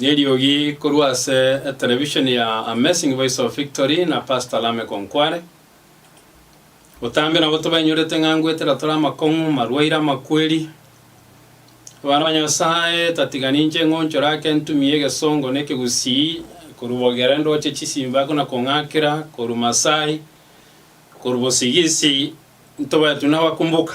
Neriogi korwa ase etelevishoni ya Amazing Voice of Victory na Pastor Lameck Onkware. Botambe nabo tobainyorete ng'a ngoetera tore amakong'u, marwaire, amakweri. Abana ba Nyasae, tatiga ninche ng'onchore ake ntumie egesongo na ekegusii korwa bogere ndoche chisimba buna kong'akera korwa Masai, korwa bosigisi ntobae tu nabakumbuka.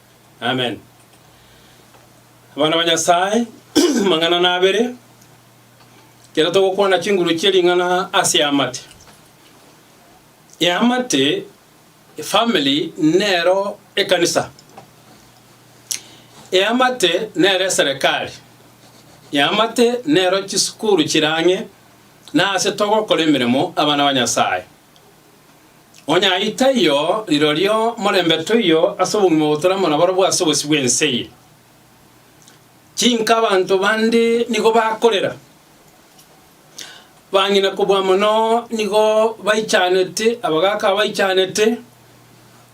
Amen. Abana ba Nyasaye, amang'ana nabere, ekero togokwana chinguru chie ring'ana ase eamate. Eamate, efamily, nero ekanisa. Eamate nero eserekari. Eamate nero chisukuru chire ang'e na ase togokora emeremo abana ba Nyasaye. Onye ayio taiyo, rirorio morembe toiyo ase obogima obo toramo na borobwo ase obosio bw'ense eye. Chinka abanto bande nigo bakorera, bang'ina kobua mono nigo baichanete, abagaaka abaichanete,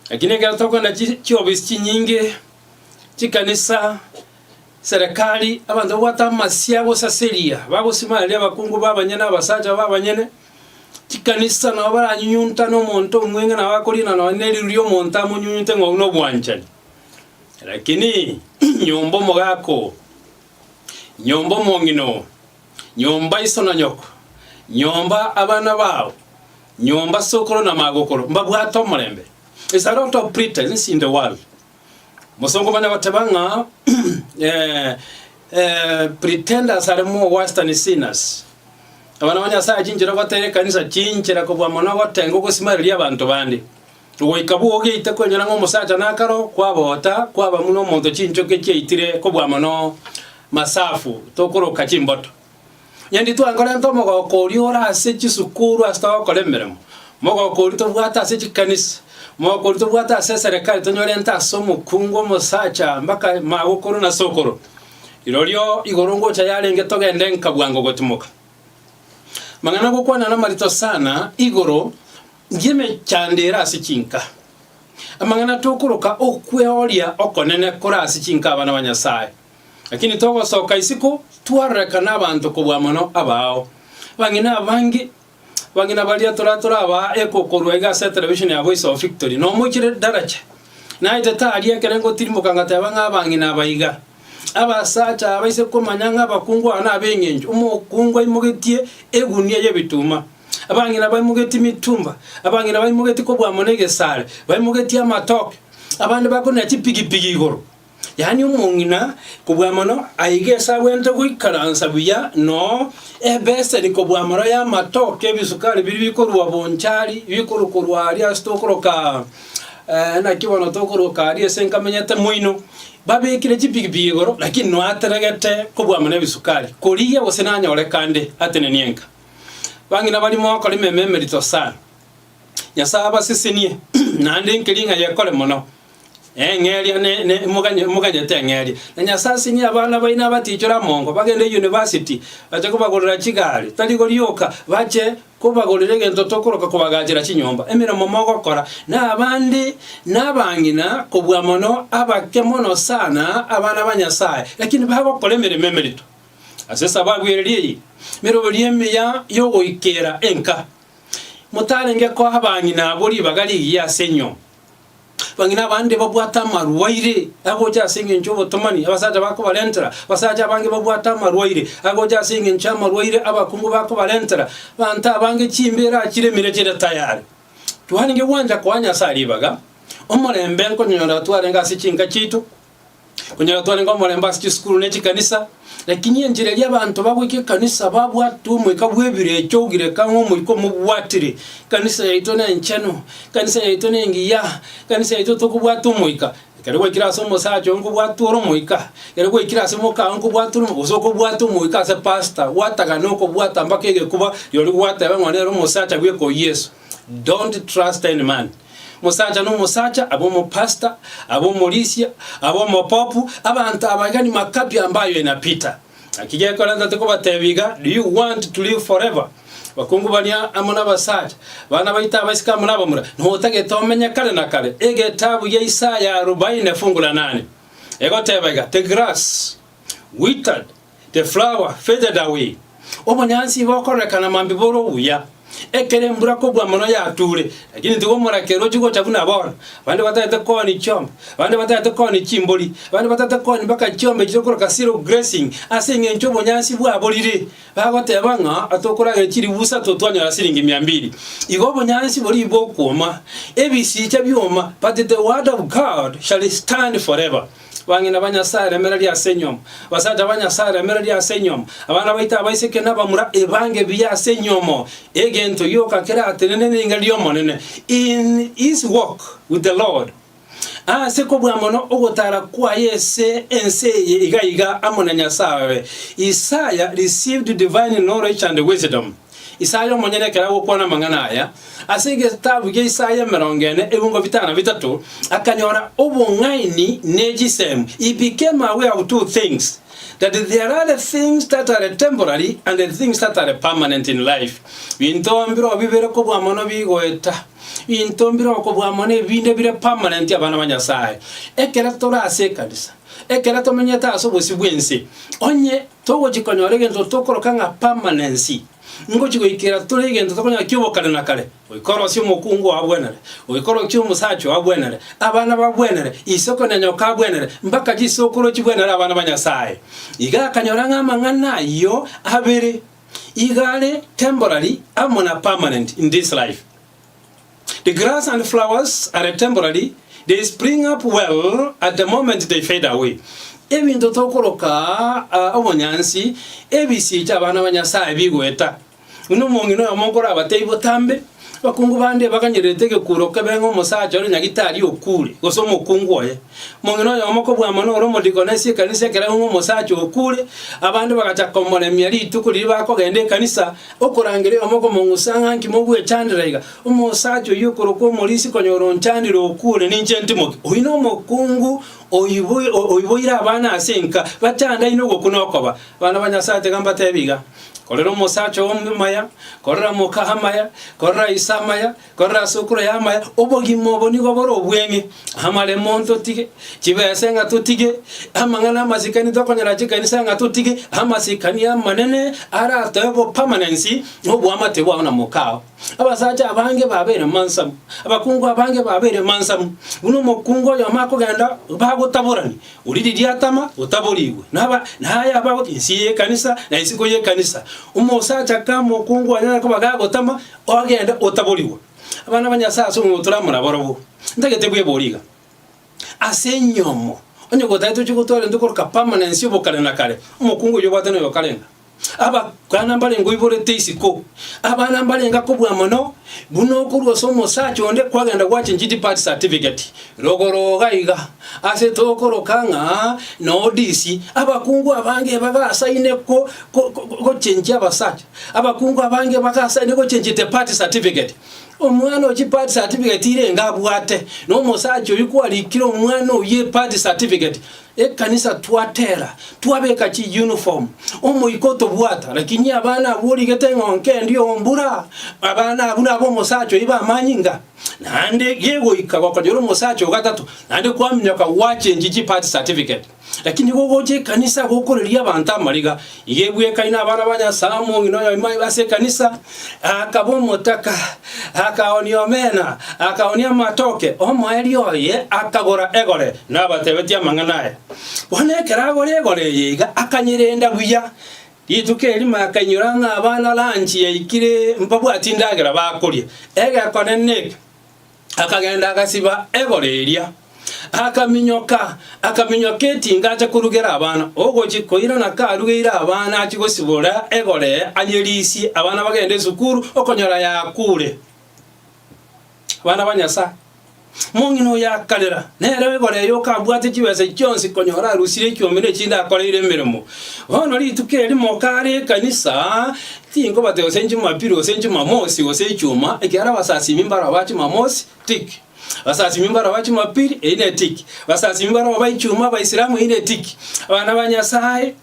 lakini ekero tokogenda chi chiofisi chinyinge, chikanisa, serekari, abanto babwate amasia agosaseria, bagosimareria abakungu b'abanyene, abasacha b'abanyene. Chikanisa nabo baranyunyuntane omonto omweng'e nabo akorina nonye neriogi ri'omonto amonyunyunte ng'a oyio nobwanchani. Lakini nyomba omogaka oo, nyomba omong'ina oo, nyomba iso na nyoko, nyomba abana bao, nyomba sokoro na magokoro, mbabwate omorembe. Is a lot of pretense in the world. Gose okomanya goteba ng'a pretenders are more worse than sinners. Abana ba Nyasaye chinchera gotera ekanisa chinchera kobua mono gotenga ogosimareria abanto bande. Goika bwo ogeite kwenyora ng'a omosacha nakaro kwabota kwaba muna omonto chinchoki chiaitire kobua mono masafu tokoroka chimboto. Onye nditware nkorenta omogoko oria ore ase chisukuru ase togokora emeremo, mogoko oria tobwate ase chikanisa, mogoko oria tobwate ase eserekari tonyorente ase omokungu, omosacha, mpaka magokoro na sokoro. Rirorio igoro ngocha yarenge togende nka bwango gotimoka. Amang'ana agokwana na amarito sana igoro y'emechando ere ase chinka. Amang'ana tokoroka okweoria okonene kore ase chinka abana ba Nyasae. Lakini togosoka isiko twarorekana abanto kobua mono abaao. Abang'ina abange, abang'ina baria tore torabaa eko korwa iga ase television ya Voice of Victory, nomoichire Daracha. Naete tari ekere ngotirimoka ngateba ng'a abang'ina aba iga. Abasacha aba ise komanya ng'a abakungu aba nab'engencho, omokungu aimogetie egunia y'ebituma, abang'ina baimogetie mitumba, abang'ina baimogetie kobua mono egesare, baimogetie amatoke, abande bakorina chipigipigi igoro. yaani omong'ina, kobua mono aiga esagwente goikaransa buya noo ebeseni kobua mono y'amatoke ebisukari biria bikorua bonchari bikorokorwa aria ase tokoroka eh, naki bono tokoroka aria ase nkamenyete moino babekire chipikipiki igoro lakini no ateregete kobua mono ebisukari korigia gose nanyore kande atenenie enka bang'ina bari mogokora ememe emerito sana nyasae abasesenie naende enkeria ng'a yekore mono Eng'eria ne, ne, moganye, moganyete eng'eria. Na Nyasae asinie abana baino abatichore amongo, bagende university, bache kobagorera chigari, tari korioka bache kobagorera egento tokoroka kobagaachera chinyomba. Emeremo mogokora nabande nabang'ina kobua mono abake mono sana abana ba Nyasae, lakini bagokora emeremo emerito. Ase esababu eria eye, meroberi emiya yogoikera enka, motarenge koa abang'ina abwo ribaga rigiya ase enyomba. Bang'ina abande babwate amarwaire agocha ase engencho y'obotomani abasacha bakobarentera, abasacha abange babwate amarwaire agocha ase engencho y'amarwaire abakungu bakobarentera, abanto abange chimbeera chiremire chire tayare. Twarenge gwancha koa Nyasae ribaga, omorembe nkonyora twarenge ase chinka chiaito, Onye na twarenge omorembe ase chisukuru ne chikanisa, lakini enchera eria abanto bagoika ekanisa babwate omoika bw'ebirecha ogireka ng'a omoika omobwatire, ekanisa yaito nenchenu, ekanisa yaito nengiya, ekanisa yaito tokobwata omoika. Ekero gwaikire ase omosacha oyo nkobwatwa ore omoika, ekero gwaikire ase moka oye nkobwatwa ore omoika, gose okobwatwa omoika ase pastor, gwatagana okobwata mpaka egekuba rirorio gogoteba ng'a nere omosacha bweka oyio Yeso. Don't trust any man. Mosacha nomosacha, abe omopastor, abe omorisia, abe omopopu, abanto abageni makapi ambayo enapita. Naki gekora ntate kobatebia iga, do you want to live forever? Abakungu baria amo nabasacha, abana baito abaiseke amo nabamura, notagete omenye kare na kare. Egetabu gia Isaya arubaine fungu la nane egoteba iga, The grass withered, The flower faded away, Obonyansi igo okororekana mambia bore obuya, ekero embura kobua mono yatuure, lakini tiga omorakera ochie gocha buna aboro, abande batagete kooni chiombe, abande batagete kooni chimbori, abande batagete kooni mpaka chiombe echi tokoroka zero grazing, ase eng'encho obonyansi bwaborire, bagoteba ng'a tokoragera chilifu isato twanyora siringi mia mbili. Igo obonyansi boria bokwoma, ebisicha bioma, but the word of God shall stand forever. Abang'ina ba Nyasae, remereria ase enyomo. Abasacha ba Nyasae, remereria ase enyomo. Abana baito abaiseke nabamura, ebange buya ase enyomo. Egento gioka keratenene neriinga ri'Omonene, in his walk with the Lord. Ase kobua mono ogotara kwaye ase ense eye iga iga amo na Nyasae oye, Isaya received divine knowledge and wisdom. Isaya omonyene ekero agokwana amang'ana aya, ase egetabu gia Isaya emerongo ene ebiongo bitano na bitato, akanyora obong'aini ne chisemi, he became aware of two things, that there are things that are temporary and things that are permanent in life. Binto mbirobio bibere kobua mono bigoeta, binto mbirobio kobua mono ebinde bire permanent abana ba Nyasaye. Ekero tore ase ekanisa, ekero tomenyete ase obosio bw'ense, onye Togochia konyora egento tokoroka ng'a permanency. Ngochia goikera tore egento tokonyora kia obokare na kare. Goika orosie omokungu oo agwenere. Goika orokie omosacha oo agwenere. Abana bagwenere. Isiko na nyoka agwenere. Mbaka chisokoro chigwenere abana ba Nyasaye. Iga akanyora ng'a amang'ana ayio abere iga are temporary amo na permanent in this life. The grass and flowers are temporary, they spring up well at the moment they fade away. Ebinto tokoroka ah, obonyansi, ebisii chi'abana ba Nyasae bigoeta. Buna omong'ina oyomo nkorabatebie botambe, abakungu bande ebaganyererete egekuro kebeng'a omosacha ore nyagitari okure, gose omokungu oye. Omong'ina oyomo kobwamwa nore omodikoni ase ekanisa ekero aung'a omosacha okure, abande bagachaka komoremia rituko riria bakogenda ekanisa, Okorangera oyomo okomong'usa ng'a nki mogwechandera iga, omosacha oyio okorokwa omorisi konyora onchandire okwo ore ninche ntimoke? Oyio nomokungu oiboire abana ase enka, bachandaine ogokwa nokoba. Abana ba Nyasae tega mbatebi iga, Korera omosacha oo maya, korera moka amaya, korera ise amaya, Korora ase okura y'amaya, obogima obo nigo bore obweng'e. Amaremo ntotige, chibese ng'a totige, amang'ana amasikani tokonyora chikanisa ng'a totige, amasikani amanene aratoe bo permanence oboamate bwao na mokao. Abasacha abange babeire mansamu, abakungu abange babeire mansamu, buna omokungu oyomo akogenda bagotaborani, oria riria atama otaborigwe, naba naye abagote ensiya y'ekanisa na isiko y'ekanisa. Omosacha kama okungu anyare koba gagotama, Ogende, otaborigwe abana ba Nyasae ase omoboko toria amorabarobwo. Ntagete bwebori iga. Ase enyomo, onye gotagete ochie gotwara intwe koroka permanence ya obokare na kare, omokungu oyio obwate noyo okarenda. Abakana mbarenge oiborete isiko, abana mbarenge akobua mono, buna okorwa ase omosacha onde kwagenda gwachenchia depart certificate, rogoro iga iga, ase tokoroka ng'a nodisi, abakungu abange ebagasaine ko ko ko gochenchia abasacha. Abakungu abange bagasaini gochia chitepati certificate. Omwana o chipati certificate irenge abwate, na omosacha oyio kwarikire omwana oyio epati certificate, ekanisa twatera, twabeka chiuniform, omoika otobwata, lakini abana abwo origete ng'a onkende ombura, abana abwo nabo omosacha oyio bamanye ng'a naende gegoika gokonyora omosacha ogatato, naende kwaminyoka gwachengi chipati certificate. Lakini nigo ogocha ekanisa gokoreria abanto amariga, iga ebwekaine abana ba Nyasae omong'ina oyomo aibo ase ekanisa, akaba omotaka, akaoonia omena, akaoonia amatoke, omoerio oye akagora egore, nabatebetie amang'ana aya. Bono ekero agora egore eye iga akanyerenda buya, rituko erimo akainyora ng'a abana lunch yaikire mbabwati endagera bakoria, egekonene eke. Akagenda agasiba egoro eria, akaminyoka, akaminyoka etinga acha korugera abana. Ogochi koirana karugeire abana achie gosibora egoro eye arie risie abana bagende esukuru okonyora yakuure. Abana ba Nyasaye. Omong'ina oyo akarera, nere egoro eye okabwate chibesa chionsi konya orarusire ekiombe ne chinde akoreire emeremo. Bono rituko erimo kare ekanisa, Tinkobate gose Njumapiri gose Njumamosi gose Ichuma, ekiagera abasasimi mbaroba Chimamosi, tik. Abasasimi mbaroba Chimapiri, eyi ne tik. Abasasimi mbaroba Ichuma, Abaisilamu, eyi ne tik. Abana ba Nyasae,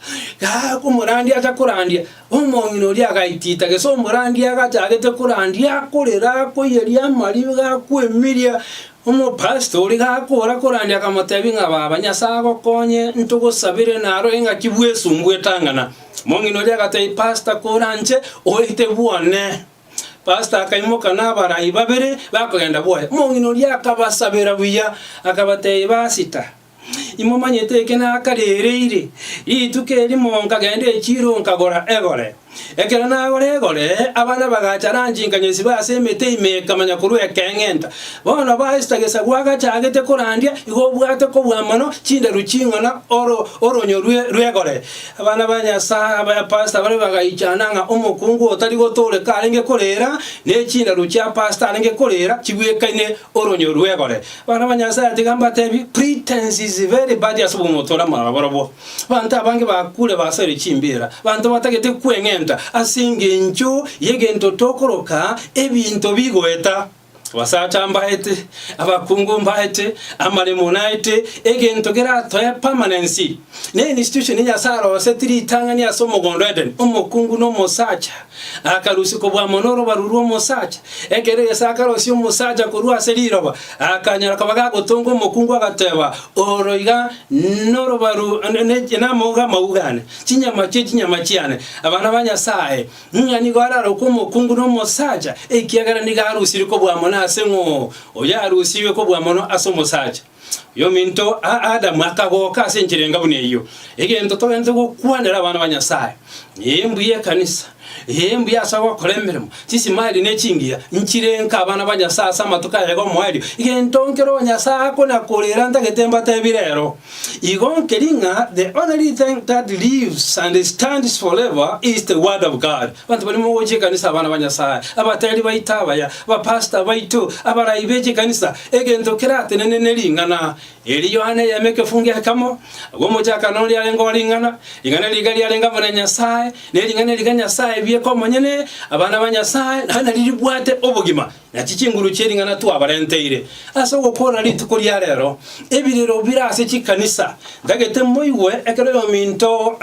gaa, omorandia acha korandia, omong'ina oria agaitita, gese omorandia agachagete korandia, akorera, akoiyeria amariga, akwemiria, omopastor oria gakora korandia akamotebia ng'a, Baba, Nyasae agokonye, ntogosabere, narore ng'aki bwesumbu etang'ana. Omong'ina oria agatebia, Pastor koranche oete bwone. Pastor akaimoka na abarai babere bakogenda bwoye. Omong'ina oria akabasabera buya, akabatebia, Basita, imomanyete eke nakarereire. Rituko erimo nkagenda echiro nkagora egore. Ekero nagora egore, abana bagacha ranchi nkanyesiba ase emete ime ekamanya korwa ekeng'enta. Bono basita gesagu agachagete korandia, igo obwate kobua mono chindaru ching'ana oro oronyo rwe rw'egore. Abana ba Nyasae abayapasete bare bagaichana ng'a omokungu otari gotooreka arenge koreera, ne chindaru chia pasete arenge koreera chibwekaine oronyio rw'egore. Abana ba Nyasae tiga mbateebie, pretense is very bad ase obomoto ore amang'ana barobwo. Abanto abange bakuure basoire chimbeera, abanto batagete kweng'enta ase engencho y'egento tokoroka ebinto bigoeta. Abasacha mbaete, abakungu mbaete, amaremo naete, egento geratoe permanency. Ne institution Nyasae aroseti ritang'ani ase omogondo o Edeni, omokungu na omosacha akarusia kobua mono orobaru rwa omosacha. Ekero Yeso akarosia omosacha korwa ase riroba, akanyora koba gagotonga omokungu agateba, Oro iga norobaru, namauga amauga ane, chinyama chie chinyama chiane, abana ba Nyasae. Ng'a nigo ararokwe omokungu nomosacha, ekiagera nigo arusirie kobua mono ase ng'o oyo arusirwe kobua mono ase omosacha. Oyominto Adamu akagoka ase enchera enga buna eyio. Egento togwenerete gokwanera abana ba Nyasaye, ee mbuya ekanisa, ee mbuya ase ogokora emeremo, chisimali ne chingiya nchire nka abana ba Nyasaye ase amatuko aya iga omoerio, egento nkere oyo Nyasaye akona korera ntagete mbatebire ero. Igo nkeri ng'a the only thing that lives and stands forever is the word of God. Abanto barimo gochia ekanisa abana ba Nyasae, abateri baito abaya, bapastor baito, abarai be chikanisa, egento keratenene ne ring'ana eri. Yohana eyemo ekefunge ekemo, agwo omochakano oria arenge o ring'ana, ring'ana riga riarenge amo na Nyasae, ne ring'ana riga Nyasae bieka omonyene, abana ba Nyasae, naende nario ribwate obogima. Na chichinguru chie ring'ana twabarenteire ase ogokoorora rituko ria reero, ebirero bire ase chikanisa, ntagete moigwe ekero oyominto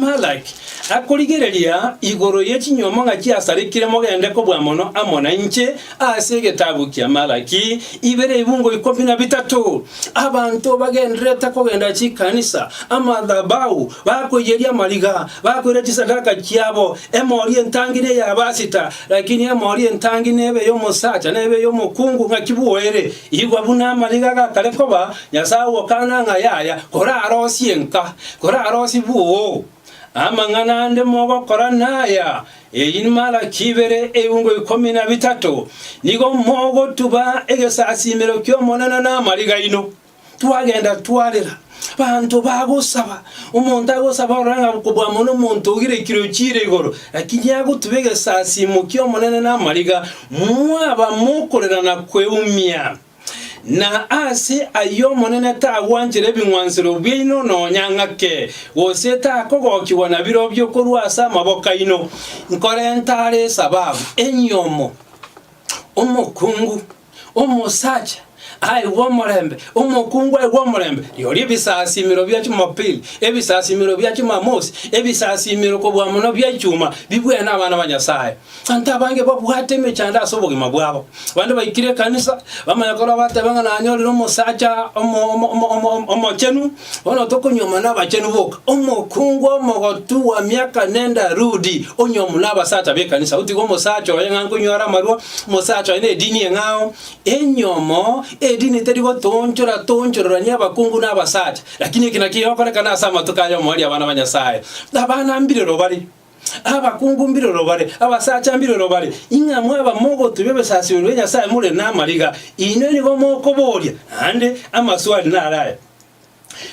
Malak akorigereria igoro ye chinyuomo ng'a chiasarikire mogende kobua mono amo nainche ase egetabu kia Malaki ibere ibungo ikomi na bitato. Abanto bagendererete kogenda chikanisa, amathabau, bakoiyeria amariga, bakoira chisadaka chiabo, emori entangire ey'abasita, Lakini emori entangi nebe y'omosacha, nebe y'omokungu, ng'aki bwoere, igwa buna amariga gakare koba, Nyasae ogokana ng'a yaya, korarosie nka, korarosie bwoo. Amang'ana ande mogokora naya, Eyi Malaki ibere, eungo ikomi na bitato, Nigo mogotuba egesasiimero ki'Omonene namariga aino. twagenda twarera, banto bagosaba, omonto agosaba orore ng'a kobua mono omonto ogirekire ochiire igoro, lakini agotube egesasiimo ki'Omonene namariga, mwaba mokorera na kweumia. Na ase ayio Omonene tagwanchera ebing'wansero biaino nonya ng'ake, gose takogokigwa nabirobio korwa ase amaboko aino, nkorenta are esababu enyomo omokungu. Omosacha aigwe omorembe, omokungu aigwe omorembe, rirorio ebisasimero bia Chumapili, ebisasimero bia Chumamosi, ebisasimero kobua mono bia Ichuma, bibwene abana ba Nyasae. Abanto abange babwate emechando ase obogima bwabo. Abande baikire ekanisa, bamanye korwa bateba ng'a nanyorire omosacha omo- omo- omo- omo- omochenu, Bono tokonyuomwa nabachenu boka. Omokungu omogotu bwa miaka nende arudi, onyuomwe nabasacha b'ekanisa. Gotiga omosacha oye ng'a nkonyware amarwa, omosacha oye nedini eng'ao, enyomo, edini teri gotoonchora toonchororania abakungu nabasacha. Lakini eki nakio gigokorekana ase amatuko aya omoerio abana ba Nyasaye. Abana mbirero bare. Abakungu mbiroro bare, abasacha mbiroro bare, ing'a mwaba mogotubia ebesasimo bia Nyasae more namariga, inwe nigo mokoboria, naende amaswali naro aya,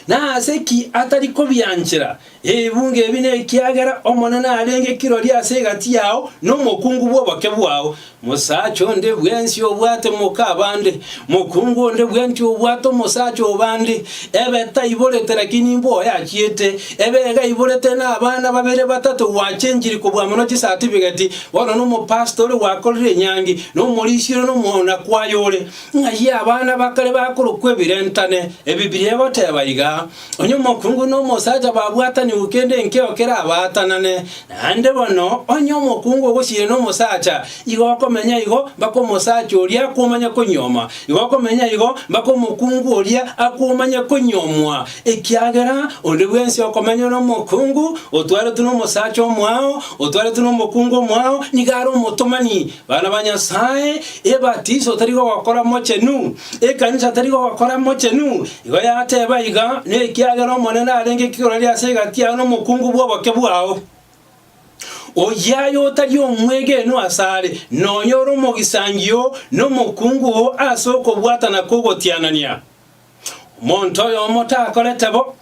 Nase ki atari kobianchera ebibungo ebi nekiagera Omonene arenge kirori ase egati yao nomokungu bw'oboke bwao? Mosacha onde bwensi obwate moka abande, mokungu onde bwensi obwate omosacha obande, ebe taiborete lakini imbe oyachiete, ebe iga aiborete na abana babere batato gwachenchiri kobua mono chisatifiketi, bono nomopastori gwakorire enyangi, na omorisia ore na omoonakwaye ore. Ng'ai abana bakare bakorokwa ebirentane? Ebibilia egoteba iga, Onye omokungu na omosacha babwatanigwe kende enkeo kerabaatanane, naende bono onye omokungu ogosiria na omosacha, igo okomenya igo mpaka omosacha oria akomanye konyuoma, igo okomenya igo mpaka omokungu oria akomanye konyuomwa, ekiagera onde bwensi okomenywa nomokungu otwaretwe nomosacha omwao, otwaretwe nomokungu omwao, nigo are omotomani. Bana ba Nyasae, ebatiso tari gokora mochenu. Ekanisa teri gokora mochenu, igo yateba iga, nekiagera Omonene arenge kirori ase egati yao nomokungu bw'oboke bwao. Oyia aye otari omwegenwa asare, nonya ore omogisangio oo, nomokungu oo ase okobwatana kw'ogotianania. Omonto oyomo takorete bo.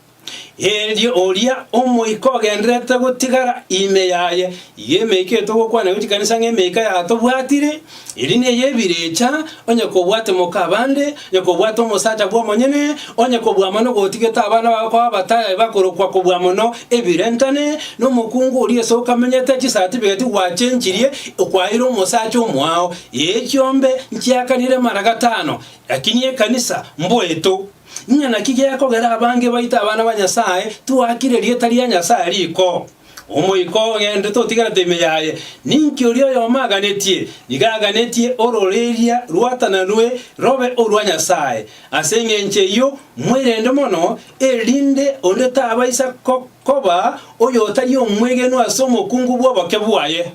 Erio oria omoika ogendererete gotigara ime yaye, iga emeika eyo togokwana gwe chikanisa ng'a emeika y'aatobwatire, eria neye ebirecha, onye kobwate moka abande, onye kobwate omosacha bw'omonyene, onye kobua mono gotigete abana babo koba abataya bakorokwa kobua mono ebirentane, na omokungu oria ase okamenyete chisatifiketi gwachenchirie okwaeire omosacha omwao. Ee chiombe nchiakanire mara gatano, lakini ekanisa mboeto. Ng'a naki gekogera abange baito abana ba Nyasae twakire erieta ria Nyasae riko. Omoika ogendete otigerete ime yaye, ninki oria oyomo aganetie? Nigo aganetie ororeria rwatananwe robe orwa Nyasae. Ase engencho eyio mwerende mono, erinde onde tabaisa koba oyotari omwegenwa ase omokungu bw'oboke bwaye.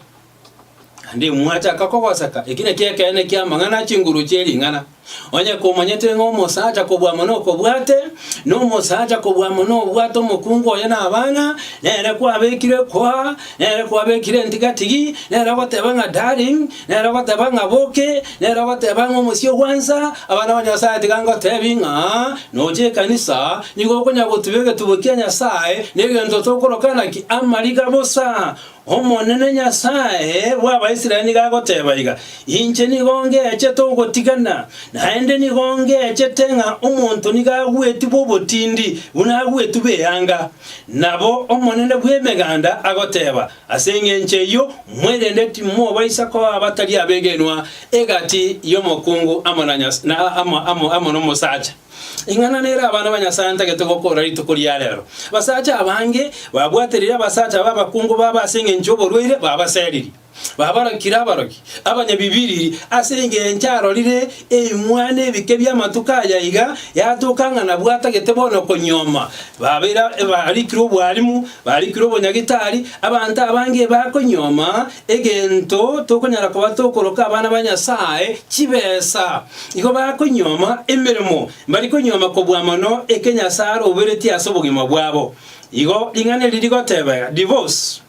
Naende mwachaka kogosaka, eki nakio ekeene ki'amang'ana a chinguru chie ring'ana. Onye komanyete ng'a omosacha kobua mono okobwate, na omosacha kobua mono obwate omokungu oye na abana, nere kwabekire kwaa, nere kwabekire entigatigi, nere ogoteba ng'a darling, nere ogoteba ng'a boke, nere ogoteba ng'a omosie ogwansa, abana ba Nyasae tiga ngotebi ng'a noche ekanisa, nigo okonyara gotuba egetubo kia Nyasae, na egento tokoroka naki amariga bosa. Omonene Nyasae bw'Abaisraeli nigo agoteeba iga, Inche nigo ngechete ogotigana, naende nigo ngechete ng'a omonto nigo agwetigwe obotindi buna agwetigwe eanga. Nabo Omonene bw'Emeganda agoteeba, Ase engencho eyio mwerende timobaisa koa abatari abegenwa egati y'omokungu amo na omosacha. Ing'ana nere abana ba Nyasae antagete gokoora rituko ria reero. Abasacha abange babwaterire abasacha aba abakungu babo ase engencho y'oborwaire babaseririe. Babarokire abaroki, abanyabibiriri, ase engencho arorire eimwana ebike bi'amatuko aya iga yatoka ng'a nabwo atagete bono okonyuoma. Babeire abarikire obwalimu, barikire obonyagitari, abanto abange bakonyuoma Egento tokonyara koba tokoroka abana ba Nyasae chibesa, igo bakonyioma emeremo, mbari konyioma kobua mono eke Nyasae aroberetie ase obogima bwabo. Igo ring'ana eri rigoteba, Divorce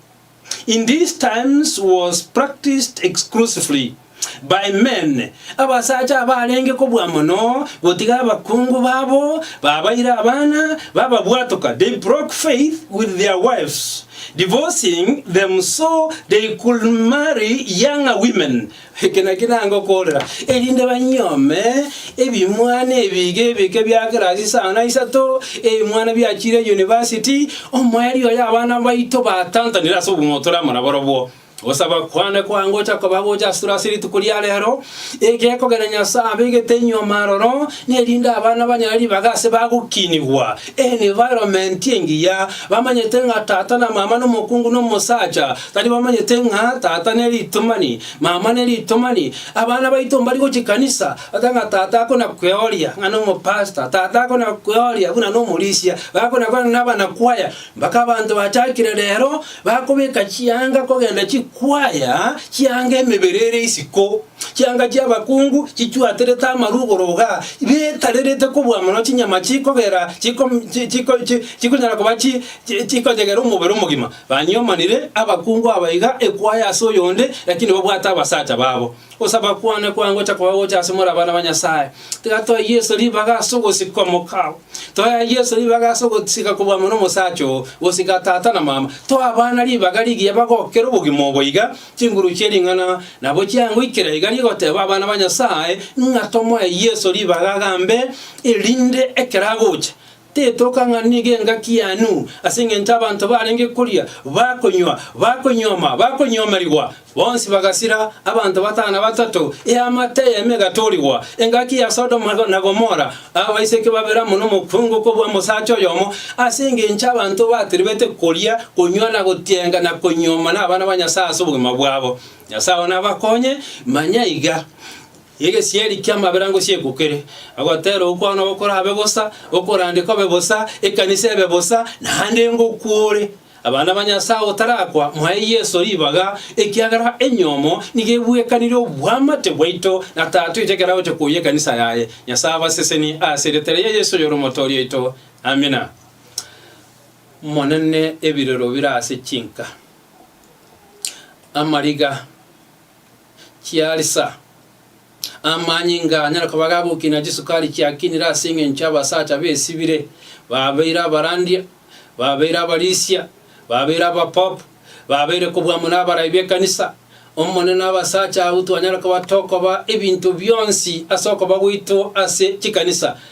in these times was practiced exclusively. Baimeme, abasacha abarenge kobua mono gotiga abakungu babo, babaire abana, bababwatoka, they broke faith with their wives, divorcing them so they could marry younger women, eke nakio nangokoorera, erinde banyuome ebimwana ebiiga ebike bia kirasi isano na isato, ebimwana biachire yunivasiti, omoerio oyo abana baito batantanire ase obong'aini otore amo nabarobwo. Gosaba kwane kwange gocha koba gocha asore ase rituko ria reero, egekogera Nyasae abegete nyuoma aroro, nerinde abana banyare ribaga ase bagokinigwa environment engiya, bamanyete ng'a tata na mama na omokungu na omosacha, tari bamanyete ng'a tata ne ritomani, mama ne ritomani. Abana baito mbari gochia kanisa, bata ng'a tata akona kweoria ng'a nomopastor, tata akona kweoria buna nomorisia, bakona kweoria ng'a nabanakwaya. Mpaka abanto bachakire rero bakobeka chianga kogenda chikwaya chianga emebere ere isiko, chianga chi'abakungu chichwaterete amaru igoro-iga, betarerete kobua mono chinyama chikogera chiko chi chiko chi chikonyara koba chi chi chikonyegera omobere omogima. Banyomanire abakungu aba iga ekwaya ase oyonde, lakini babwate abasacha babo. Ogosaba kwane kwa ngocha koba gocha ase more abana ba Nyasae. Tiga toe Yeso ribaga ase ogosika omokao. Toea Yeso ribaga ase ogosika koboama nomosacha oo, gosika tata na mama. Toa abana ribaga rigiya bagokere obogima obo iga, chinguru chie ring'ana nabo chiangoikera iga rigoteba abana ba Nyasae ng'a tomoe Yeso ribaga agambe erinde ekero agocha, Tetoka ng'a nigo engaki y'aan'u, ase engencho abanto barenge koria, bakonywa, bakonyuoma, bakonyomerigwa. Bonsi bagasira, abanto batano na batato, eamate eyemo egatorigwa. Engaki ya Sodomu na Gomora, abaiseke babere amo nomokuungu kobua omosacha oyomo, ase engencho abanto bateribete koria, konywa, na gotienga, na konyuoma, nabana ba Nyasae ase obogima bwabo. Nyasae onabakonye, manya iga. Y'egesieri ki'amaberango si'ekukire, ogotera okwo nabo korabe bosa, okorande kobe bosa, ekanisa ebe bosa, naende ngokwore. Abana ba Nyasae otarakwa, mwae Yeso ribaga, ekiagera enyomo nigo ebwekanire obwamate bwaito na Tata oito ekero agocha koyia ekanisa yaye. Nyasae abasesenie ase erieta ria Yeso oyore Omotoori oito. Amina. Monene ebirero bire ase chinka. Amariga. chiarisa. Amanyinga anyare koba gagokia na chisukari chiakinire ase engencho y'abasacha besibire, babeire abarandia, babeire abarisia, babeire abapopu, babeire kobua amo n'abarai b'ekanisa. Omonene abasacha abwo twanyare koba tokoba ebinto bionsi ase okoba gwaito ase chikanisa,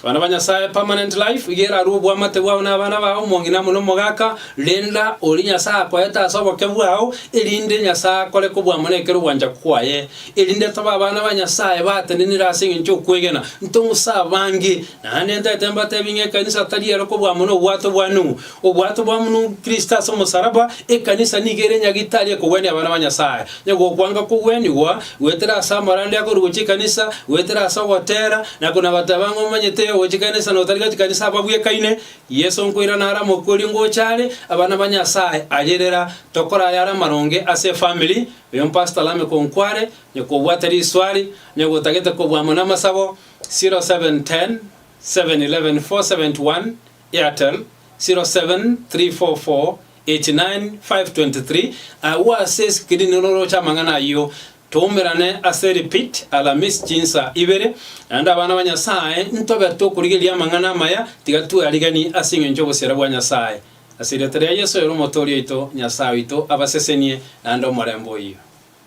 Abana ba Nyasaye permanent life iga erarue oboamate bwao na abana bao, omong'ina amo na omogaka, renda oria Nyasaye akoete ase oboke bwao, erinde Nyasaye akore kobwamana ekero ogwancha kwaye, erinde tobe abana ba Nyasaye batenenire ase engencho y'okwegena, ntong'use abange. Naende ntete mbatebi ng'a ekanisa tari ero kobwamana obwato bwa Nuhu, Obwato bwa buna Kristo ase omosaraba, ekanisa nigo ere nyagitari ekogwenia abana ba Nyasae. Onye gokwanga kogwenigwa, goetera ase amarande akorwa gochia ekanisa, goetera ase ogotera, na konya nabateba ng'a omanyete ogochia ekanisa na otari gochia ekanisa ababwekaine. Yeso nkoirana are omokori ngocha are, abana ba Nyasae aye rera tokore ayare amaronge ase efamiri. Oyo mpastor Lameck onkware, onye kobwate riswari, onye gotagete kobua amo namasabo, 0710 711 471 Airtel, 0734489523, Agwo ase eskirini roroche amang'ana ayio, toumerane ase repeat alamisi chinsa ibere, naende abana ba Nyasae ntobe tokorigereria amang'ana amaya, tiga twearigani ase engencho y'obosieri bwa Nyasae. Ase erieta ria Yeso oyore Omotooria oito, Nyasae oito abasesenie naende omorembe oyio.